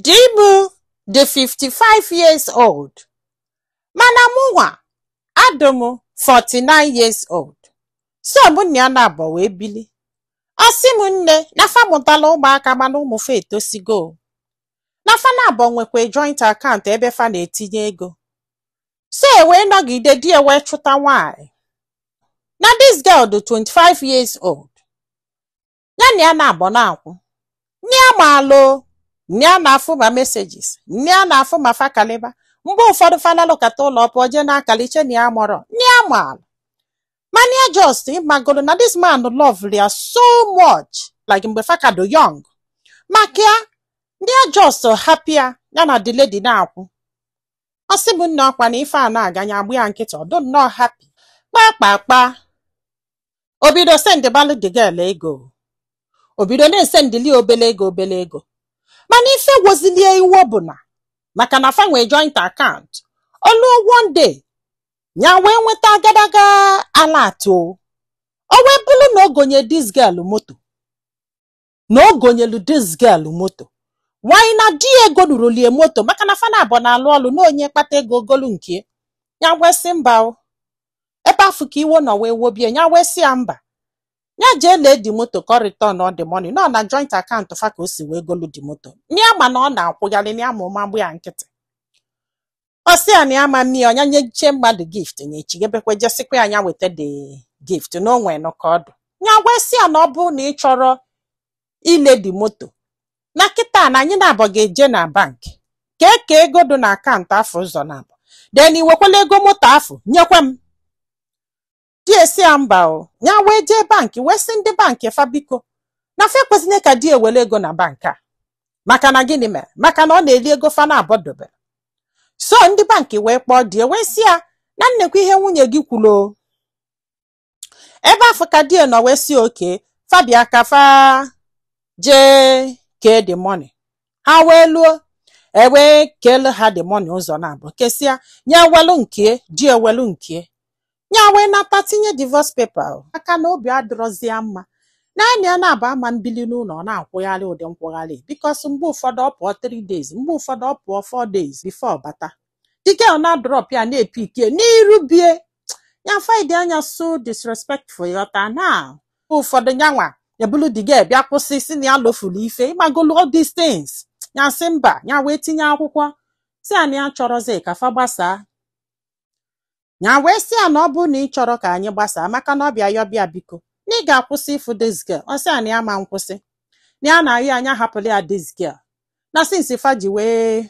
di mụ dị 55 years old mana mụnwa adị m 49 years old so mụ na ya naabọ wee bili ọ sị m nne na fa mụtala ụmụaka mana ụmụ fa etosigo na fa naabọ nwekwe joint account ebe fa na-etinye ego so e wee nọgide di e wee chụta nwaanyị na this girl dị 25 years old ya na ya naabọ na-akwụ na ya maalụ na ya na-afụ ma messages na ya na-afụ ma fa kalịba mgbe ụfọdụ fa nalukata ụlọ ọ pụọ jee na-akalị chee na ya amarọ na ya maalụ mana ya just ị magolu na this man lovelụ ya so much like mgbe fa ka dụ young maka ya na ya just hapụ ya ya na the lady na-akwụ ọ sị m nna ọ kwa na ife a na-aga ya agba ya nkịtị ọ dụ nnọọ happy kpakpakpa o bido sendịbalụ the girl ego o bido na-esendili ya obele ego obele ego mana ife wozili e iwe bụ na maka na fa nwe joint account o luo one day ya wee nweta agadaga alert o wee bụrụ na o gonye this girl moto na o gonyelu this girl moto nwaanyị na di ya egoluroli e moto maka na fa naabọ na-alụ ọlụ na onye kpata ego o golu nke ya wee sị mba o ebe afụ ka iwe nọ wee wobie ya wee sị ya mba ya jee lee the moto ka ọ return all the money nọ na joint account fa ka o si wee golu the moto na ya ma na ọ na-akwụgharị na ya ma ụma gba ya nkịtị ọ sị ya na ya ama eme ya o nya nyeche mmadụ gift nyechi ebekwe jee sịkwa ya nya weta the gift na o nwenụ ka ọ dụ nya wee sị ya na ọ bụrụ na ị chọrọ ile the moto na kịta na anyị naabọ ga-eje na bank ka e kee ego dị na account afụ ụzọ naabọ then i wekwele ego moto afụ nyekwa m di e sị ya mba o ya wee jee bank wee sị ndị bank fa biko na fa ekwezine ka di e welu ego na bank a maka na gịnị mere maka na ọ na-eli ego fa naabọ dobe so ndị bank wee kpọọ di e wee sị ya na neekwa ihe nwunye gị kwulu o ebe afụ ka di e nọ wee sị okay fa bịa ka fa jee kee the money ha wee luo e wee keelu ha the money ụzọ naabọ kesịa nya ewelu nke di ewelu nke ya wee nata tinye divorce paper maka na obi adịrọzi ya mma na ya na ya naabọ ama ebili n'ụlọ ọ na-akwụgharị ụdị nkwụgharị because mgbe ụfọdụ ọ pụọ 3 days mgbe ụfọdụ ọ pụọ 4 days before ọ bata the girl na-adrop ya na-epick ya n'iru bie ya find ya so disrespectful ghọta na mgbe ụfọdụ nyanwa ebulu the girl bịa kwụsị sị na ya lofulu ife ị magolu all these things ya sị mba ya wee tinye akwụkwọ sị ya na ya achọrọzi ka fa gbasaa ya wee sị ya na ọ bụ na ị chọrọ ka anyị gbasaa maka na ọ bịa yọba ya biko na ị ga-akwụsị ịfụ this girl ọ sị ya na ya ama nkwụsị na ya na-ayọ ya ya hapụrụ ya this girl na since fa ji wee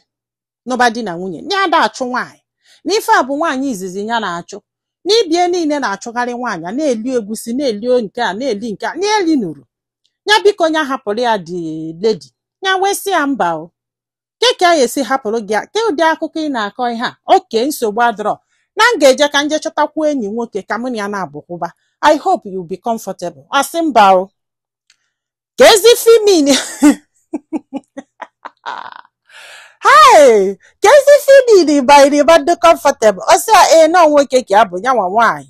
nụba di na nwunye na ya ada achụ nwaanyị na ife a bụ nwaanyị izizi ya na-achụ na ibe ya niile na-achụgharị nwaanyị a na-eli egusi na-eli nke a na-eli nke a na-eli nuru ya biko ya hapụrụ ya the lady ya wee sị ya mba o ke ka anyị esi hapụrụ gị ya ke ụdị akụkọ ị na-akọ ihe a okay nsogbu adịrọ na m ga-eje ka m jee chọtakwu enyi nwoke ka mụ na ya na-abụkwụba I hope you'll be comfortable ọ sị mba o kezi ife ị mean hai kezi ife ị mean by ị ga-adị comfortable ọ sị ya ee na ọ nwoke ka ya bụ ya nwa nwaanyị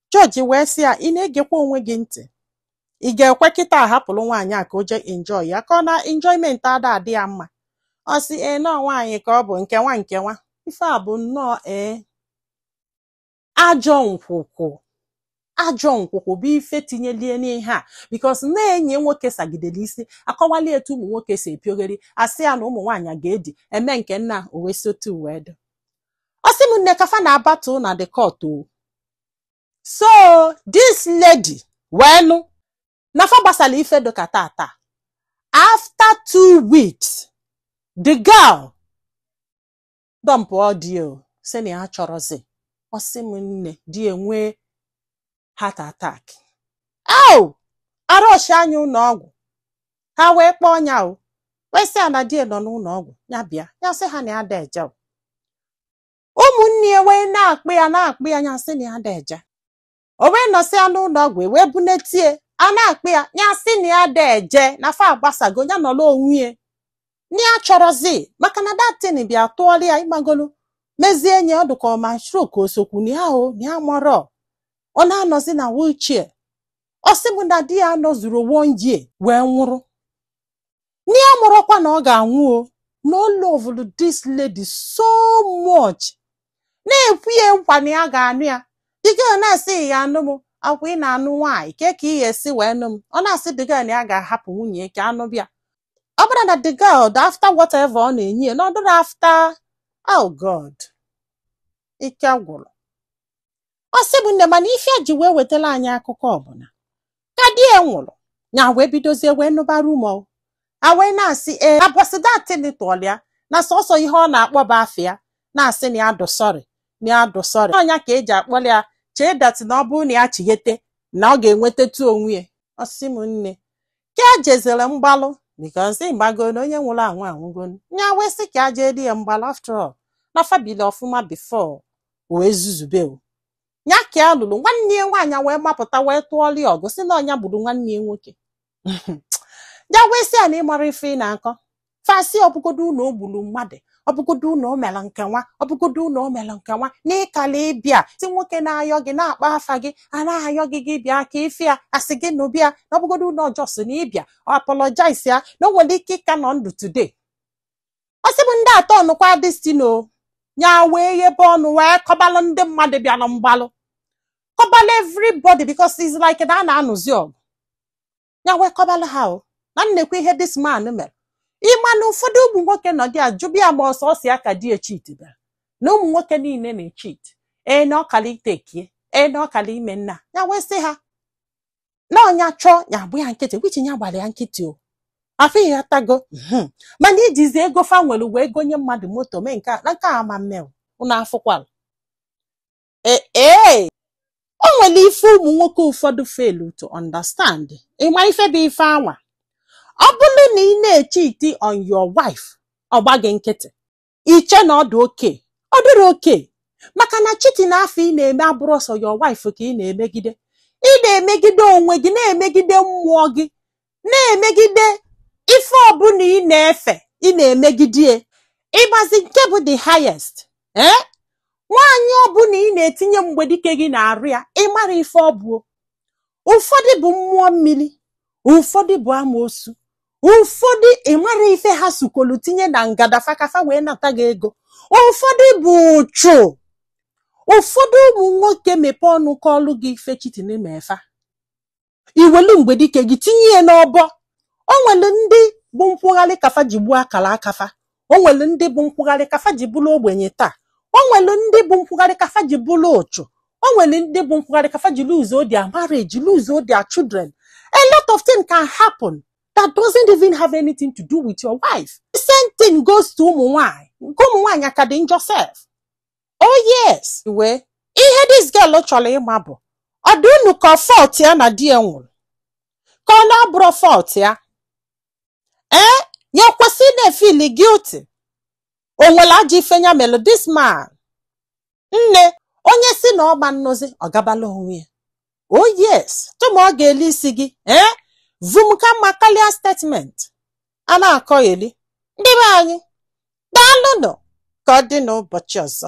Judge wee sị ya, ị na-egekwa onwe gị ntị? Ị ga-ekwe kịta ahapụrụ nwaanyị a ka o jee enjoy ya ka ọ na enjoyment ada adị ya mma? Ọ sị, ee na ọ nwaanyị ka ọ bụ nke nwa nke nwa. Ife a bụ nnọọ ee ajọ nkwụkwụ ajọ nkwụkwụ bụ ife tinyeli ya n'ihe a because na enyi ya nwoke sagidere isi akọwali ya etu ụmụ nwoke si epiogheri asị ya na ụmụ nwaanyị ga-edi eme nke nna o wee sotu wee dụ ọ sị m nne ka fa na-battle na the court o so this lady wee nụ na fa gbasala ife dịka tata after two weeks the girl dumpụọ di ya o sị na ya achọrọzi ọ sị m nne di ya nwee heart attack o a rushia nya ụlọ ọgwụ ha wee kpọọ ya o wee sị ya na di ya nọ n'ụlọ ọgwụ ya bịa ya sị ha na ya ada eje o. ụmụnne ya wee na-akpụ ya na-akpụ ya ya sị na ya ada eje o wee nọsịa n'ụlọ ọgwụ e wee bunata ya a na-akpụ ya ya sị na ya ada eje na fa agbasago ya nọrọ onwe ya na ya achọrọzi maka na that thing bịa tụọrọ ya ịmagolu mezie enyi ọ dụka ọ ma stroke o sokwu na ya o na ya amarọ ọ na-anọzi na wheelchair ọ sị m na di ya nọzuru one year wee nwụrụ na ya amarọkwa na ọ ga-anwụ o na o lovulu this lady so much na-ekwe ya nkwa na ya ga-anụ ya the girl a na-asị ị ga-anụ m akwa ị na-anụ nwaanyị ke ka ị ga-esi wee nụ m ọ na-asị the girl na ya ga-ahapụ nwunye ya ka ya nụba ya ọ bụrụ na the girl dị after whatever ọ na-enye ya na ọ dịrọ after oh god ike gwụrụ ọ sị m nne mana ife ya ji wee wetara anyị akụkọ ọ bụ na ka di ya nwụrụ ya wee bidozie wee nụba rumour a wee na-asị ee ụbọsị that thing tụọlụ ya na sọsọ ihe ọ na-akpọ bụ afa ya na-asị na ya dụ sorry na ya dụ sorry ọ nya ka e ji akpọrọ ya chee that na ọ bụrụ na ya chighete na ọ ga-enwetatụ onwe ya ọ sị m nne ka a jezere mgbalụ because ị mago na onye nwụrụ anwụ anwụgo nya wee sị ka a jee di ya mgbalụ after all na fa bili ọfụma before o wee zuzube o nya ka ya lulu nwanne ya nwaanyị wee mapụta wee tụọrọ ya ọgụ sị na ọ nya gburu nwanne ya nwoke ya wee sị ya na ị marọ ife ị na-akọ fa sị ọ bụgodu na o gburu mmadụ ọ bụgodu na o mere nke nwa ọ bụgodu na o mere nke nwa na ị kala ịbịa si nwoke na-ayọ gị na-akpọ afa gị a na-ayọ gị gị bịa ka ị fụ ya a sị gị na ị bịa na ọ bụgodu na ọ just na ị bịa ọ apologize ya na o nwere ike ịka nọ ndụ today ọ sị bụ ndị atọ ọ nụkwa this thing o nya wee ghebe ọnụ wee kọbalụ ndị mmadụ bịara mgbalụ kọbalụ everybody because it's like na a na-anụzi ọgụ nya wee kọbalụ ha o na nekwa ihe this man mere ị ma na ụfọdụ ụmụ nwoke nọdụ ajụba ya ma ọ sọsọ ya ka di echeat bịara na ụmụ nwoke niile na-echeat ee na ọ kala ịtake ya ee na ọ kala ime nna nya wee sị ha na ọ nya chọọ nya agba ya nkịtị which nya gbara ya nkịtị o afụ ị ghọtago mhm. mana ijizi ego fa nwere wee gonye mmadụ moto mee nke a na nke a ama mmeo ụnụ afụkwala ee e, o nwere ife ụmụ nwoke ụfọdụ fail to understand ị ma ife bụ ife anwa ọ bụrụ na ị na-echeat on your wife ọ gba gị nkịtị i che na ọ dị okay ọ dịrọ okay maka na cheating afụ ị na-eme abụrọ sọ your wife ka ị na-emegide ị na-emegide onwe gị na-emegide mmụọ gị na-emegide ife ọbụla ị na-efe ị na-emegide ị mazi nke bụ the highest ee eh? nwaanyị ọbụla ị na-etinye mgbedike gị n'arụ ya ị marọ ife ọ bụ ụfọdụ bụ mmụọ mmiri ụfọdụ bụ amoosu ụfọdụ ị marọ ife ha sukolu tinye na ngada fa ka fa wee nata gị ego ụfọdụ bụ ụchụ ụfọdụ ụmụ nwoke mepee ọnụ kọọlụ gị ife cheating me fa i welu mgbedike gị tinye ya n'ọbọ o nwere ndị bụ nkwụgharị ka fa ji gbuo akara aka fa o nwere ndị bụ nkwụgharị ka fa ji bụrụ ogbenye taa o nwere ndị bụ nkwụgharị ka fa ji bụrụ ụchụ o nwere ndị bụ nkwụgharị ka fa ji lose their marriage lose their children a lot of things can happen that doesn't even have anything to do with your wife the same thing goes to ụmụ nwaanyị nke ụmụ nwaanyị aka dị njọ sef oh yes well ihe this girl chọrọ ịma bụ ọ dị unu ka ọ fault ya na di ya nwụrụ ka ọ na ọ bụrọ fault ya ee na o kwesị na-efeel guilty o nwere ajọ ife nya melụ this man nne onye sị na ọ ma anọzi ọ gabalụ onwe ya oh yes tụma ọ ga-eli isi gị ee vum ka mma karịa statement a na-akọ eli ndị be anyị daalụnụ ka ọ dị n'ụbọchị ọzọ